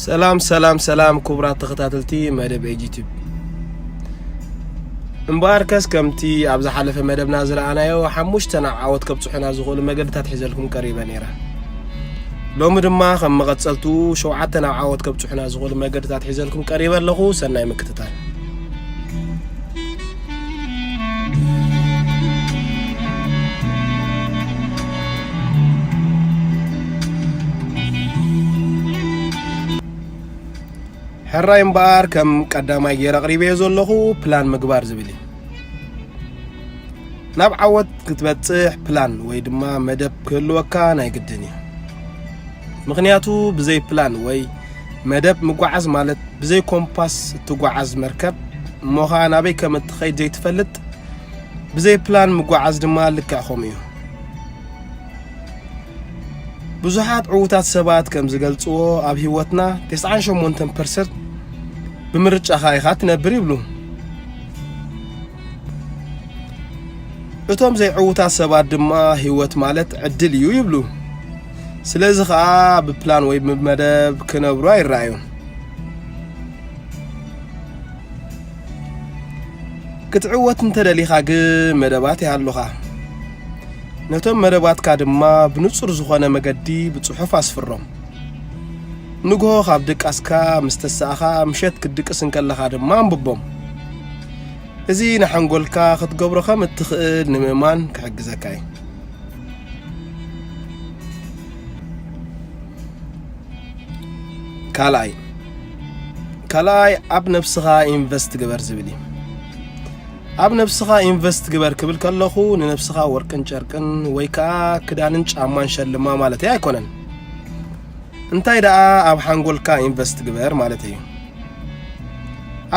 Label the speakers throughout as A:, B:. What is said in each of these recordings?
A: ሰላም ሰላም ሰላም ክቡራት ተኸታተልቲ መደብ ኤጂቲብ እምበኣር ከስ ከምቲ ኣብ ዝሓለፈ መደብና ዝረኣናዮ ሓሙሽተ ናብ ዓወት ከብፅሑና ዝኽእሉ መገድታት ሒዘልኩም ቀሪበ ነይረ ሎሚ ድማ ከም መቐፀልቱ ሸውዓተ ናብ ዓወት ከብፅሑና ዝኽእሉ መገድታት ሒዘልኩም ቀሪበ ኣለኹ ሰናይ ምክትታል ሕራይ እምበኣር ከም ቀዳማይ ገይረ ኣቕሪበዮ ዘለኹ ፕላን ምግባር ዝብል እዩ ናብ ዓወት ክትበጽሕ ፕላን ወይ ድማ መደብ ክህልወካ ናይ ግድን እዩ ምክንያቱ ብዘይ ፕላን ወይ መደብ ምጓዓዝ ማለት ብዘይ ኮምፓስ እትጓዓዝ መርከብ እሞኻ ናበይ ከም እትኸይድ ዘይትፈልጥ ብዘይ ፕላን ምጓዓዝ ድማ ልክዕ ከምኡ እዩ ብዙሓት ዕዉታት ሰባት ከም ዝገልጽዎ ኣብ ህይወትና 98 ፐርሰንት ብምርጫኻ ኢኻ ትነብር ይብሉ እቶም ዘይዕዉታት ሰባት ድማ ህይወት ማለት ዕድል እዩ ይብሉ ስለዚ ከዓ ብፕላን ወይ ብመደብ ክነብሩ ኣይረኣዩን ክትዕወት እንተደሊኻ ግን መደባት ይሃሉኻ ነቶም መደባትካ ድማ ብንጹር ዝኾነ መገዲ ብጽሑፍ ኣስፍሮም ንግሆ ካብ ድቃስካ ምስ ተሳእኻ ምሸት ክትድቅስ እንከለኻ ድማ ኣንብቦም እዚ ንሓንጎልካ ክትገብሮ ከም እትኽእል ንምእማን ክሕግዘካ እዩ ካልኣይ ካልኣይ ኣብ ነብስኻ ኢንቨስት ግበር ዝብል እዩ ኣብ ነብስኻ ኢንቨስት ግበር ክብል ከለኹ ንነብስኻ ወርቅን ጨርቅን ወይ ከዓ ክዳንን ጫማን ሸልማ ማለት ኣይኮነን እንታይ ደኣ ኣብ ሓንጎልካ ኢንቨስት ግበር ማለት እዩ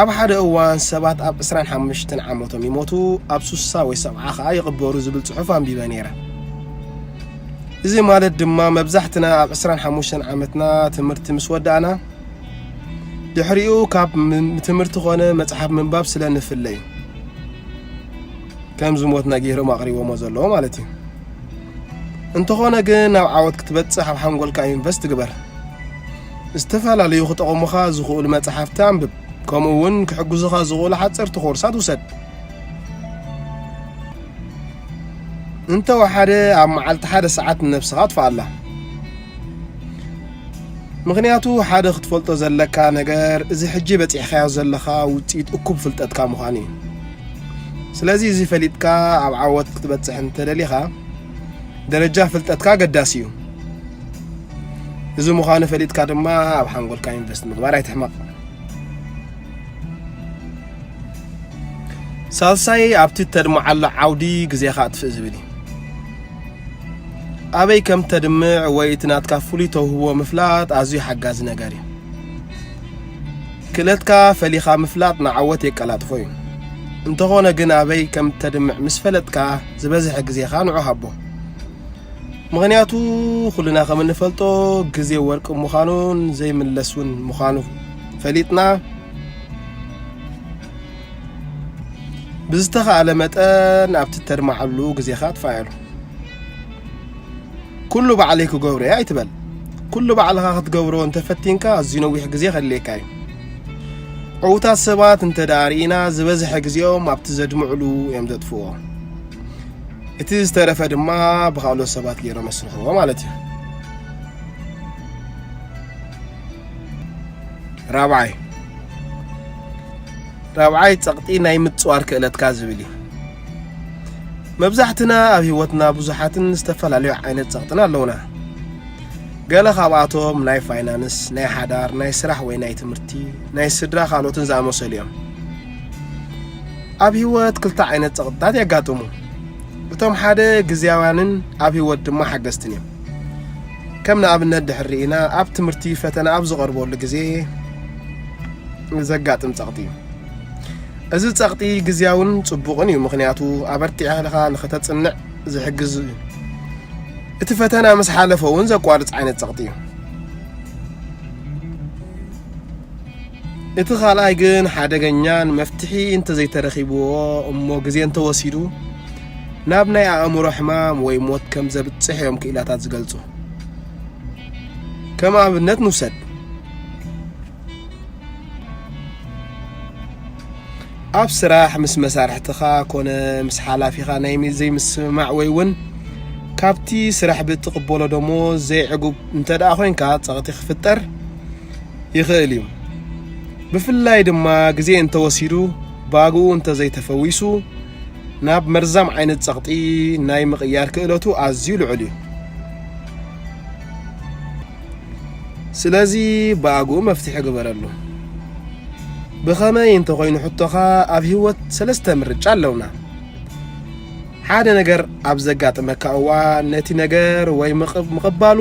A: ኣብ ሓደ እዋን ሰባት ኣብ 25 ዓመቶም ይሞቱ ኣብ 60 ወይ 70 ከዓ ይቕበሩ ዝብል ጽሑፍ ኣንቢበ ነይረ እዚ ማለት ድማ መብዛሕትና ኣብ 25 ዓመትና ትምህርቲ ምስ ወዳእና ድሕሪኡ ካብ ትምህርቲ ኮነ መጽሓፍ ምንባብ ስለ ንፍለይ ከም ዝሞትና ገይሮም ኣቕሪቦሞ ዘለዎ ማለት እዩ እንተኾነ ግን ናብ ዓወት ክትበጽሕ ኣብ ሓንጎልካ ኢንቨስት ግበር ዝተፈላለዩ ክጠቕሙኻ ዝኽእሉ መጻሕፍቲ ኣንብብ፣ ከምኡውን ክሕግዙኻ ዝኽእሉ ሓጸርቲ ኮርሳት ውሰድ። እንተወሓደ ኣብ መዓልቲ ሓደ ሰዓት ንነብስኻ ኣጥፍኣላ ምክንያቱ ሓደ ክትፈልጦ ዘለካ ነገር እዚ ሕጂ በፂሕካዮ ዘለኻ ውፅኢት እኩብ ፍልጠትካ ምዃኑ እዩ ስለዚ እዚ ፈሊጥካ ኣብ ዓወት ክትበፅሕ እንተደሊኻ ደረጃ ፍልጠትካ ኣገዳሲ እዩ እዚ ምዃኑ ፈሊጥካ ድማ ኣብ ሓንጎልካ ኢንቨስት ምግባር ኣይትሕመቕ ሳልሳይ ኣብቲ ተድምዓሉ ዓውዲ ግዜኻ ኣጥፍእ ዝብል እዩ ኣበይ ከም ተድምዕ ወይ እቲ ናትካ ፍሉይ ተውህቦ ምፍላጥ ኣዝዩ ሓጋዚ ነገር እዩ ክእለትካ ፈሊኻ ምፍላጥ ንዓወት የቀላጥፎ እዩ እንተኾነ ግን ኣበይ ከም ተድምዕ ምስ ፈለጥካ ዝበዝሐ ግዜኻ ንዑ ሃቦ ምኽንያቱ ኩልና ከም እንፈልጦ ግዜ ወርቂ ምዃኑን ዘይምለስ እውን ምዃኑ ፈሊጥና ብዝተኻእለ መጠን ኣብቲ እተድማዓሉ ግዜኻ ኣጥፋኣሉ ኩሉ ባዕለይ ክገብሮ እየ ኣይትበል ኩሉ ባዕልኻ ክትገብሮ እንተፈቲንካ ኣዝዩ ነዊሕ ግዜ ከድልየካ እዩ ዕውታት ሰባት እንተ ደኣ ርኢና ዝበዝሐ ግዜኦም ኣብቲ ዘድምዕሉ እዮም ዘጥፍዎ እቲ ዝተረፈ ድማ ብካልኦት ሰባት ገይሮም መስርሕዎ ማለት እዩ ራብዓይ ራብዓይ ጸቕጢ ናይ ምጽዋር ክእለትካ ዝብል እዩ መብዛሕትና ኣብ ህይወትና ብዙሓትን ዝተፈላለዩ ዓይነት ጸቕጥን ኣለውና ገለ ካብኣቶም ናይ ፋይናንስ፣ ናይ ሓዳር፣ ናይ ስራሕ ወይ ናይ ትምህርቲ፣ ናይ ስድራ ካልኦትን ዝኣመሰሉ እዮም። ኣብ ህይወት ክልተ ዓይነት ጸቕጥታት የጋጥሙ። እቶም ሓደ ግዜያውያንን ኣብ ህይወት ድማ ሓገዝትን እዮም። ከም ንኣብነት ድሕር ርኢና ኣብ ትምህርቲ ፈተና ኣብ ዝቐርበሉ ግዜ ዘጋጥም ጸቕጢ እዩ። እዚ ጸቕጢ ግዜያውን ጽቡቕን እዩ፣ ምክንያቱ ኣበርቲዕካ ንኸተጽንዕ ዝሕግዝ እዩ። እቲ ፈተና ምስ ሓለፈ እውን ዘቋርፅ ዓይነት ፀቕጢ እዩ። እቲ ካልኣይ ግን ሓደገኛን መፍትሒ እንተዘይተረኺብዎ እሞ ግዜ እንተወሲዱ ናብ ናይ ኣእምሮ ሕማም ወይ ሞት ከም ዘብፅሕ እዮም ክኢላታት ዝገልፁ። ከም ኣብነት ንውሰድ። ኣብ ስራሕ ምስ መሳርሕትኻ ኮነ ምስ ሓላፊኻ ናይ ዘይምስምማዕ ወይ እውን ካብቲ ስራሕ ብእትቕበሎ ደሞዝ ዘይዕጉብ እንተ ደኣ ኮንካ ጸቕጢ ክፍጠር ይኽእል እዩ። ብፍላይ ድማ ግዜ እንተወሲዱ ባግኡ እንተዘይተፈዊሱ ናብ መርዛም ዓይነት ጸቕጢ ናይ ምቕያር ክእለቱ ኣዝዩ ልዑል እዩ። ስለዚ ብኣግኡ መፍትሒ ግበረሉ። ብኸመይ እንተኾይኑ ሕቶኻ ኣብ ህይወት ሰለስተ ምርጫ ኣለውና። ሓደ ነገር ኣብ ዘጋጥመካ እዋን ነቲ ነገር ወይ ምቕባሉ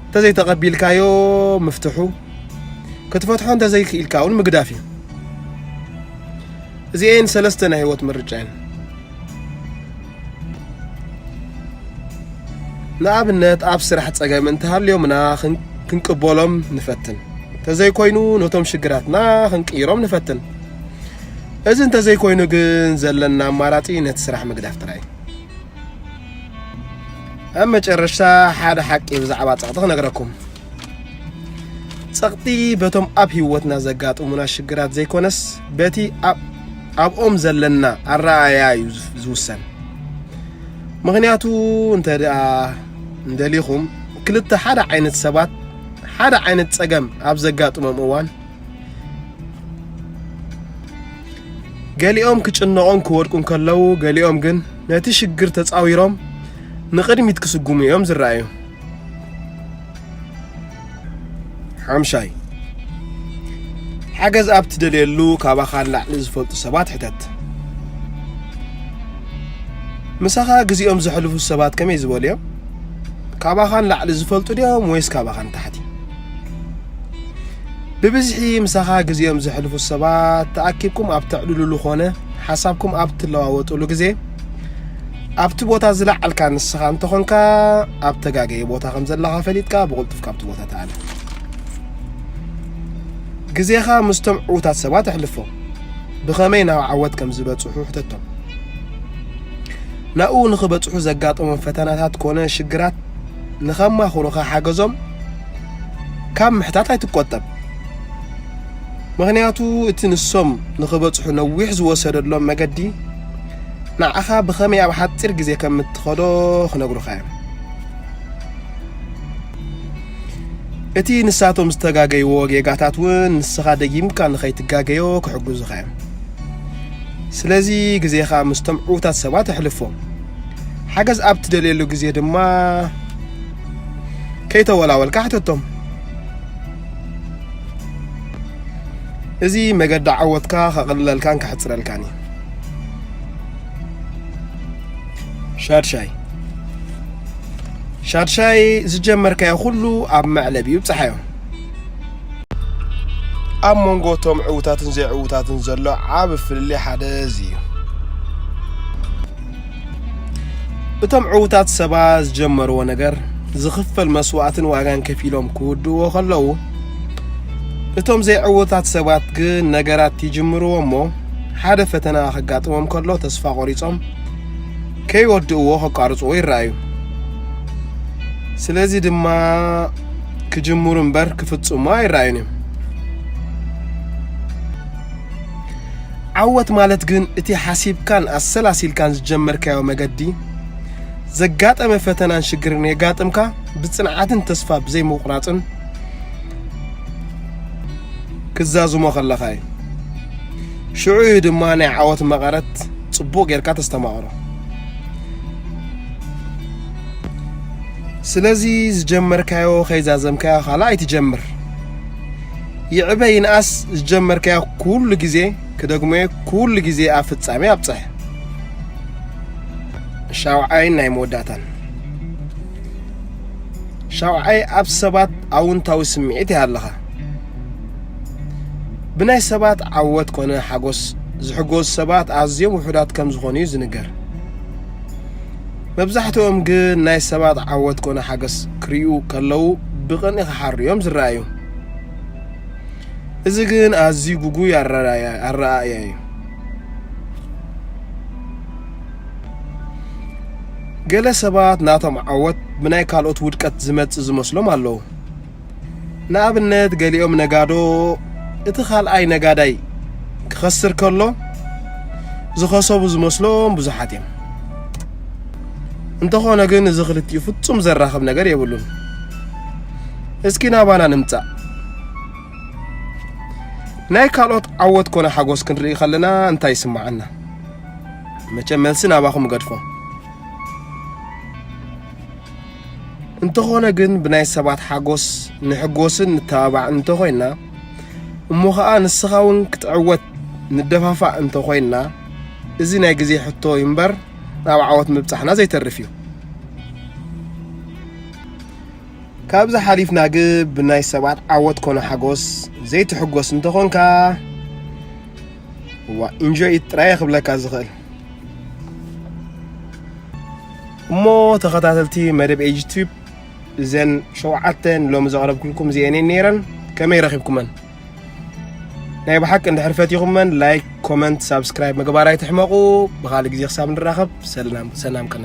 A: እንተዘይተቐቢልካዮ ምፍትሑ ክትፈትሖ እንተዘይክኢልካ እውን ምግዳፍ እዩ እዚኤን ሰለስተ ናይ ህይወት ምርጫ እየን ንኣብነት ኣብ ስራሕ ጸገም እንተሃልዮምና ክንቅበሎም ንፈትን ተዘይኮይኑ ነቶም ሽግራትና ክንቅይሮም ንፈትን እዚ እንተዘይኮይኑ ግን ዘለና ኣማራጺ ነቲ ስራሕ ምግዳፍ ጥራይ ኣብ መጨረሻ ሓደ ሓቂ ብዛዕባ ጸቕጢ ክነግረኩም ጸቕጢ በቶም ኣብ ህይወትና ዘጋጥሙና ሽግራት ዘይኮነስ በቲ ኣብኦም ዘለና ኣረኣእያ እዩ ዝውሰን። ምክንያቱ እንተ ደኣ እንደሊኹም ክልተ ሓደ ዓይነት ሰባት ሓደ ዓይነት ጸገም ኣብ ዘጋጥሞም እዋን ገሊኦም ክጭነቑን ክወድቁን ከለዉ ገሊኦም ግን ነቲ ሽግር ተጻዊሮም ንቕድሚት ክስጉሙ እዮም ዝረኣዩ። ሓምሻይ ሓገዝ ኣብ ትደልየሉ ካባኻ ንላዕሊ ዝፈልጡ ሰባት ሕተት ምሳኻ ግዜኦም ዘሕልፉ ሰባት ከመይ ዝበሉ እዮም ካባኻ ንላዕሊ ዝፈልጡ ድዮም ወይስ ካባኻ ንታሕቲ ብብዝሒ ምሳኻ ግዜኦም ዘሕልፉ ሰባት ተኣኪብኩም ኣብ ተዕልሉሉ ኾነ ሓሳብኩም ኣብ ትለዋወጡሉ ግዜ ኣብቲ ቦታ ዝለዓልካ ንስኻ እንተኾንካ ኣብ ተጋገየ ቦታ ከም ዘለኻ ፈሊጥካ ብቕልጡፍ ካብቲ ቦታ ተኣለ ግዜኻ ምስቶም ዕዉታት ሰባት ኣሕልፎ ብኸመይ ናብ ዓወት ከም ዝበፅሑ ሕተቶም ናብኡ ንኽበፅሑ ዘጋጠሞም ፈተናታት ኮነ ሽግራት ንኸማኽሩኻ ሓገዞም ካብ ምሕታት ኣይትቆጠብ ምክንያቱ እቲ ንሶም ንኽበፅሑ ነዊሕ ዝወሰደሎም መገዲ ንዓኻ ብኸመይ ኣብ ሓጺር ግዜ ከም እትኸዶ ክነግሩኻ እዮም። እቲ ንሳቶም ዝተጋገይዎ ጌጋታት እውን ንስኻ ደጊምካ ንኸይትጋገዮ ክሕግዙኻ እዮም። ስለዚ ግዜኻ ምስቶም ዕዉታት ሰባት ኣሕልፎ። ሓገዝ ኣብ ትደልየሉ ግዜ ድማ ከይተወላወልካ ሕተቶም። እዚ መገዲ ዓወትካ ከቕልለልካን ከሕጽረልካን እዩ። ሻድሻይ ሻድሻይ ዝጀመርካዮ ኩሉ ኣብ መዕለብ እዩ ብፅሓዮ ኣብ መንጎ እቶም ዕውታትን ዘይዕውታትን ዘሎ ዓብ ፍልልይ ሓደ እዚ እዩ እቶም ዕውታት ሰባ ዝጀመርዎ ነገር ዝኽፈል መስዋእትን ዋጋን ከፊሎም ክውድዎ ከለዉ እቶም ዘይዕወታት ሰባት ግን ነገራት ይጅምርዎ እሞ ሓደ ፈተና ከጋጥሞም ከሎ ተስፋ ቆሪጾም ከይወድእዎ ከቋርጽዎ ይረኣዩ ስለዚ ድማ ክጅምሩ እምበር ክፍጽሙ ኣይረኣዩን እዮም ዓወት ማለት ግን እቲ ሓሲብካን ኣሰላሲልካን ዝጀመርካዮ መገዲ ዘጋጠመ ፈተናን ሽግርን የጋጥምካ ብጽንዓትን ተስፋ ብዘይምቑራጽን ክዛዝሞ ከለኻ እዩ ሽዑ እዩ ድማ ናይ ዓወት መቐረት ጽቡቕ ጌርካ ተስተማቕሮ ስለዚ ዝጀመርካዮ ከይዛዘምካዮ ካልኣ ኣይትጀምር ይዕበ ይንኣስ ዝጀመርካዮ ኩሉ ግዜ ክደግሞ ኩሉ ግዜ ኣብ ፍጻሜ ኣብጽሕ ሻውዓይን ናይ መወዳእታን ሻውዓይ ኣብ ሰባት ኣውንታዊ ስምዒት ይሃለኻ ብናይ ሰባት ዓወት ኮነ ሓጎስ ዝሕጎዝ ሰባት ኣዝዮም ውሑዳት ከም ዝኾኑ እዩ ዝንገር መብዛሕትኦም ግን ናይ ሰባት ዓወት ኮነ ሓገስ ክሪኡ ከለዉ ብቕንኢ ክሓሩ እዮም ዝረኣዩ እዚ ግን ኣዝዩ ጉጉይ ኣረኣእያ እዩ ገለ ሰባት ናቶም ዓወት ብናይ ካልኦት ውድቀት ዝመጽእ ዝመስሎም ኣለዉ። ንኣብነት ገሊኦም ነጋዶ እቲ ካልኣይ ነጋዳይ ክኸስር ከሎ ዝኸሰቡ ዝመስሎም ብዙሓት እዮም። እንተኾነ ግን እዚ ክልቲኡ ፍጹም ዘራኽብ ነገር የብሉን። እስኪ ናባና ንምጻእ ናይ ካልኦት ዓወት ኮነ ሓጎስ ክንርኢ ከለና እንታይ ይስምዓና? መቸም መልሲ ናባኹም እገድፎ እንተኾነ ግን ብናይ ሰባት ሓጎስ ንሕጎስን ንተባባዕ እንተኾይና እሞ ከዓ ንስኻ እውን ክትዕወት ንደፋፋእ እንተኾይና እዚ ናይ ግዜ ሕቶ እዩ እምበር ናብ ዓወት ምብፃሕና ዘይተርፍ እዩ ካብዚ ሓሊፍና ግ ብናይ ሰባት ዓወት ኮነ ሓጎስ ዘይትሕጎስ እንተኾንካ እዋ ኢንጆይ ኢት ጥራየ ክብለካ ዝኽእል እሞ ተኸታተልቲ መደብ ኤጅ ቲዩብ እዘን ሸውዓተ ሎሚ ዘቕረብኩልኩም እዚአን እየን ነይረን ከመይ ረኺብኩመን ናይ ብሓቂ እንድሕር ፈቲኹመን ላይክ ኮመንት ሳብስክራይብ ምግባር ኣይትሕመቑ ብካልእ ግዜ ክሳብ ንራኸብ ሰላም ቅነ